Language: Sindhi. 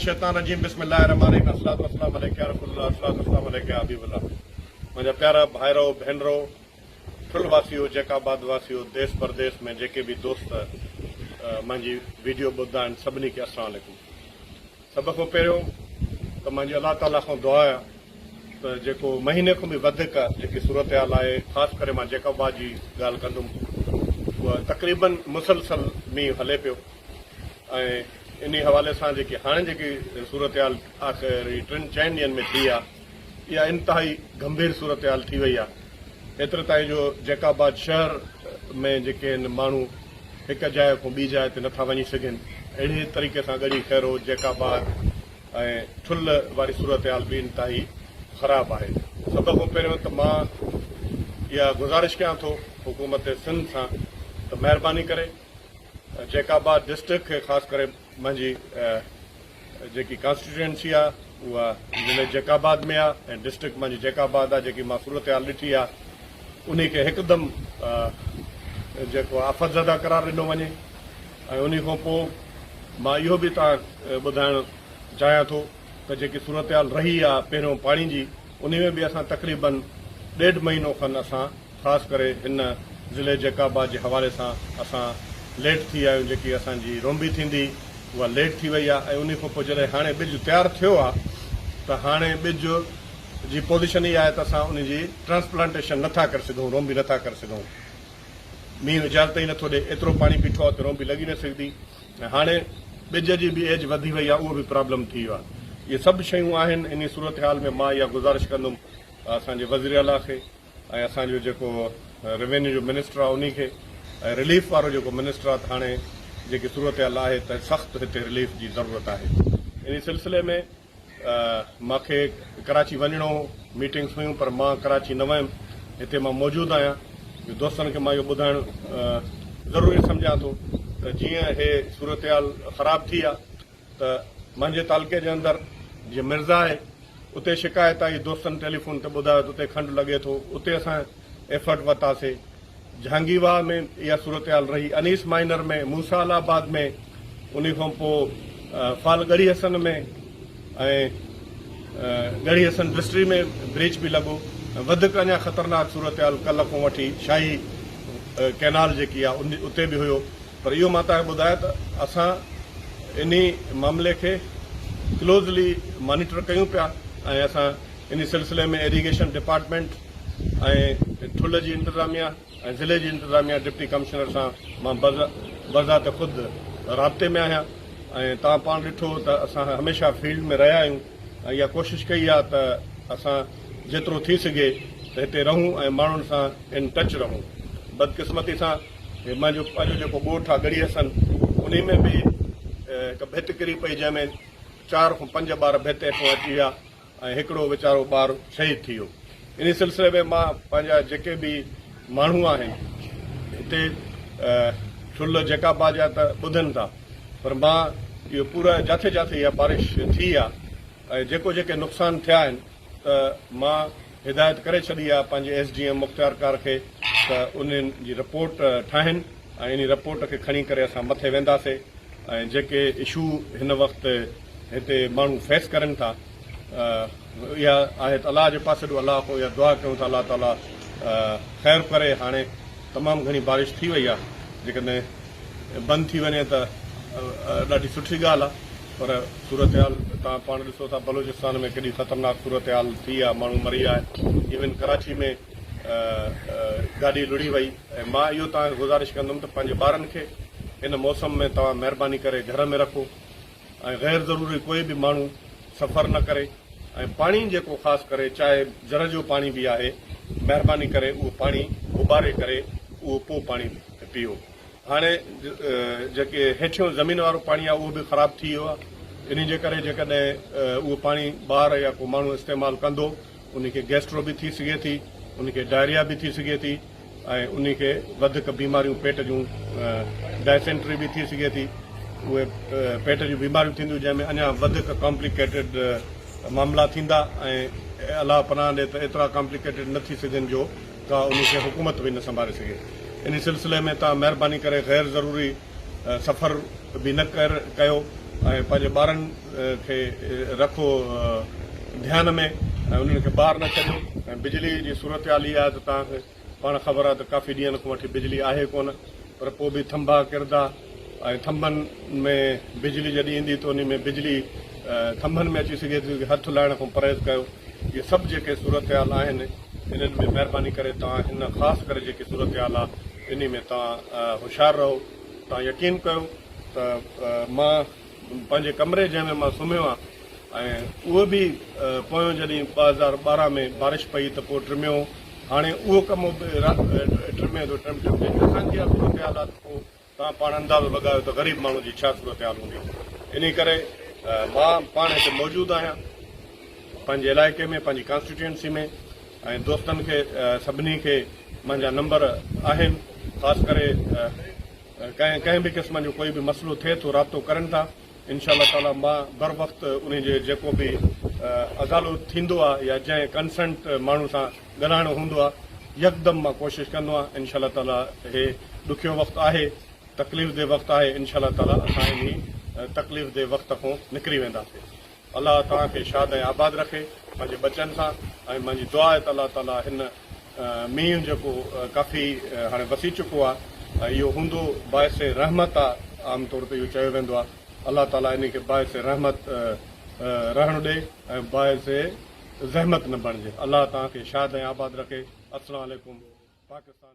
الشيطان الرجيم بسم الله الرحمٰن الرحيم الصلوة والسلام عليڪ يا رسول الله الصلوة والسلام عليڪ يا حبيب الله منهنجا پيارا ڀائرؤ ڀينرؤ ٺل واسيو جيڪ آباد واسيو ديس پرديس ۾ جيڪي به دوست منهنجي ويڊيو ٻڌندا آهن سڀني کي السلام عليڪم سڀ کان پهريون ته منهنجي الله تعاليٰ کان دعا آهي ته جيڪو مهيني کان به وڌيڪ جيڪي صورتحال آهي خاص ڪري مان جيڪ آباد جي ڳالهه ڪندم اها تقريبن مسلسل مينهن هلي پيو ۽ انهي حوالي سان جيڪي هاڻي جيڪي صورتحال آخر هي ٽن چئن ڏينهن ۾ ٿي آ اها انتهائي گنڀير صورتحال ٿي وئي آ ايتري تائين جو جيڪب آباد شهر ۾ جيڪي هن ماڻهو هڪ جاء کون ٻي جاء تي نٿا وڃي سگهن اهڙي طريقي سان ڳڙهي خيرو جيڪب آباد ۽ ٺل واري صورتحال به انتهائي خراب آهي سڀ کون پهريون ته مان اها گذارش ڪيان ٿو حڪومت سنڌ سان ته مهرباني ڪري. جيڪب آباد ڊسٽرڪٽ کي خاص ڪري منهنجي جيڪي ڪانسٽيٽوئنسي آهي اها ضلعي جيڪب آباد ۾ آهي ۽ ڊسٽرڪٽ منهنجي جيڪب آباد آهي جيڪي مان صورتحال ڏٺي آهي انهي کي هڪدم جيڪو آفت زده قرار ڏنو وڃي ۽ انهي کان پوء مان اهو به تان ٻڌائڻ چاهيان ٿو ته جيڪي صورتحال رهي آهي پهريون پاڻي جي انهي ۾ به اسان تقريبن ڏيڍ مهينو کن اسان خاص ڪري هن ضلعي جيڪب آباد جي حوالي سان اسان ليٽ ٿي ويا آهيون جيڪي اسان جي رونبي ٿيندي اها ليٽ ٿي وئي آهي ۽ انهي کان پوء جڏهن هاڻي ٻج تيار ٿيو آهي ته هاڻي ٻج جي پوزيشن اها آهي ته اسان انهي جي ٽرانسپلانٽيشن نٿا ڪري سگهون رونبي نٿا ڪري سگهون مينهن اجازت ئي نٿو ڏي ايترو پاڻي بيٺو آهي ته رونبي لڳي نه سگهندي ۽ هاڻي ٻج جي به ايج وڌي وئي آهي اهو به پرابلم ٿي ويو آهي اهي سڀ شيون آهن انهي صورتحال ۾ مان اها گذارش ڪندم اسان جي وزيراعليٰ کي ۽ اسان جو جيڪو روينيو جو منسٽر آ انهي کي ۽ رليف وارو جيڪو منسٽر آ ته هاڻي جيڪي صورتحال آهي ته سخت هتي رليف جي ضرورت آهي انهي سلسلي ۾ مان کي ڪراچي وڃڻو هو ميٽنگس هيون پر مان ڪراچي نه ويم هتي مان موجود آهيان جو دوستن کي مان اهو ٻڌائڻ ضروري سمجهان ٿو ته جيئن هي صورتحال خراب ٿي آ ته منهنجي تعلقي جي اندر جيئن مرزا آهي اتي شڪايت آئي دوستن ٽيليفون تي ٻڌايو ته اتي کنڊ لڳي ٿو اتي اسان ايفرٽ ورتاسي جهانگي واهه ۾ اها صورتحال رهي انيس مائنر ۾ موسا الله آباد ۾ ان کان پوء فال ڳڙهي حسن ۾ ۽ ڳڙهي حسن ڊسٽري ۾ بريچ به لڳو وڌيڪ اڃا خطرناڪ صورتحال ڪلهه کان وٺي شاهي ڪئنال جيڪي آهي اتي به هيو پر اهو مان توهانکي ٻڌايان ته اسان انهي معاملي کي ڪلوزلي مانيٽر ڪيون پيا ۽ اسان انهي سلسلي ۾ ايريگيشن ڊپارٽمينٽ ۽ ٺلهه جي انتظاميا ۽ ضلعي جي انتظاميا ڊپٽي ڪمشنر سان مان بذات خود رابطي ۾ آهيان ۽ توهان پاڻ ڏٺو ته اسان هميشه فيلڊ ۾ رهيا آهيون ۽ اها ڪوشش ڪئي آهي ته اسان جيترو ٿي سگهي ته هتي رهون ۽ ماڻهن سان ان ٽچ رهون بدقسمتي سان هي منهنجو پنهنجو جيڪو ڳوٺ آهي ڳڙهي حسن انهي ۾ به هڪ ڀت ڪري پئي جنهن ۾ چار کان پنج ٻار ڀت هيٺون اچي ويا ۽ هڪڙو ويچارو ٻار شهيد ٿي ويو انهي سلسلي ۾ مان پنهنجا جيڪي به ماڻهو آهن هتي ٺل جيڪا باج آهي ته ٻڌن ٿا پر مان اهو پورا جاٿي جاٿي اها بارش ٿي آهي ۽ جيڪو جيڪي نقصان ٿيا آهن ته مان هدايت ڪري ڇڏي آهي پنهنجي ايس ڊي ايم مختيار ڪار کي ته انهن جي رپورٽ ٺاهين ۽ انهي رپورٽ کي کڻي ڪري اسان مٿي وينداسي ۽ جيڪي اشو هن وقت هتي ماڻهو فيس ڪرين ٿا اها آهي ته الله جي پاسي ڏو الله کان اها دعا ڪيون ٿا الله تعالي خير ڪري هاڻي تمام گهڻي بارش ٿي وئي آهي جيڪڏهن بند ٿي وڃي ته ڏاڍي سٺي ڳالهه آهي پر صورتحال توهان پاڻ ڏسو ٿا بلوچستان ۾ ڪيڏي خطرناڪ صورتحال ٿي آ ماڻهو مري آ ايون ڪراچي ۾ گاڏي لڙهي وئي ۽ مان اهو توهان کي گذارش ڪندم ته پنهنجي ٻارن کي هن موسم ۾ توهان مهرباني ڪري گهر ۾ رکو ۽ غير ضروري ڪوئي به ماڻهو سفر نه ڪري ۽ پاڻي جيڪو خاص ڪري چاهي جر جو پاڻي به آهي مهرباني ڪري اهو پاڻي اٻاري ڪري اهو پو پاڻي پيئو. هاڻي جيڪي هيٺيون زمين وارو پاڻي آهي اهو به خراب ٿي ويو آهي انهي جي ڪري جيڪڏهن اهو پاڻي ٻار يا ڪو ماڻهو استعمال ڪندو انهي کي گيسٽرو به ٿي سگهي ٿي انهي کي ڊائريا به ٿي سگهي ٿي ۽ انهي کي وڌڪ بيماريون پيٽ جون ڊائسينٽري به ٿي سگهي ٿي اهي پيٽ جون بيماريون ٿينديون جنهن ۾ اڃا وڌڪ ڪامپليڪيٽيڊ معاملا ٿيندا ۽ الله پناهه ڏي ته ايترا ڪامپليڪيٽيڊ نه ٿي سگهن جو ڪا ان کي حڪومت به نه سنڀالي سگهي. ان سلسلي ۾ توهان مهرباني ڪري غير ضروري سفر به نه ڪيو ۽ پنهنجي ٻارن کي رکو ڌيان ۾ ۽ انهن کي ٻاهر نه ڇڏيو ۽ بجلي جي صورتحال هي آهي ته توهان کي پاڻ خبر آهي ته ڪافي ڏينهن کان وٺي بجلي آهي ڪونه پر پوء به ٿنڀا ڪردا ۽ ٿنڀن ۾ بجلي جڏهن ايندي ته انهي ۾ بجلي ٿنڀن ۾ اچي سگهي ٿي هٿ لائڻ کان پرهيز ڪيو اهي سڀ جيڪي صورتحال آهن انهن ۾ مهرباني ڪري توهان هن خاص ڪري جيڪي صورتحال آهي انهي ۾ توهان هوشيار رهو توهان يقين ڪيو ته مان پنهنجي ڪمري جنهن ۾ مان سمهيو آهيان ۽ اهو به پويون جڏهن ٻه هزار ٻارهن ۾ بارش پئي ته پوء ٽميو هاڻي اهو ڪمرو به ٽمي ٿو ٽمٽم جيڪي اسان جي صورتحال آهي ته پوء توهان پاڻ اندازو لڳايو ته غريب ماڻهو جي ڇا صورتحال هوندي. انهي ڪري مان پاڻ هتي موجود آهيان پنهنجي علائقي ۾ پنهنجي ڪانسٽيٽيوئنسي ۾ ۽ دوستن کي سڀني کي منهنجا نمبر آهن خاص ڪري ڪنهن ڪنهن به قسم جو ڪوئي به مسئلو ٿئي ٿو رابطو ڪرن ٿا انشاء الله تعاليٰ مان بروقت انهي جي جيڪو به ازالو ٿيندو آهي يا جنهن ڪنسنٽ ماڻهو سان ڳالهائڻو هوندو آهي يڪدم مان ڪوشش ڪندو آهيان انشاء الله تعاليٰ هي ڏکيو وقت آهي تڪليف دي وقت آهي انشاء الله تعاليٰ اسان انهي تڪليف دي وقت کون نڪري وينداسين الله توهان کي شاد ۽ آباد رکي پنهنجي ٻچن سان ۽ منهنجي دعا آهي ته الله تعاليٰ هن مينهن جيڪو ڪافي هاڻي وسي چڪو آ اهو هوندو باعث رحمت آ عام طور تي اهو چيو ويندو آ الله تعالي انهي کي باعث رحمت رهڻ ڏي ۽ باعث زحمت نه بڻجي الله توهان کي شاد ۽ آباد رکي السلام عليڪم پاڪستان.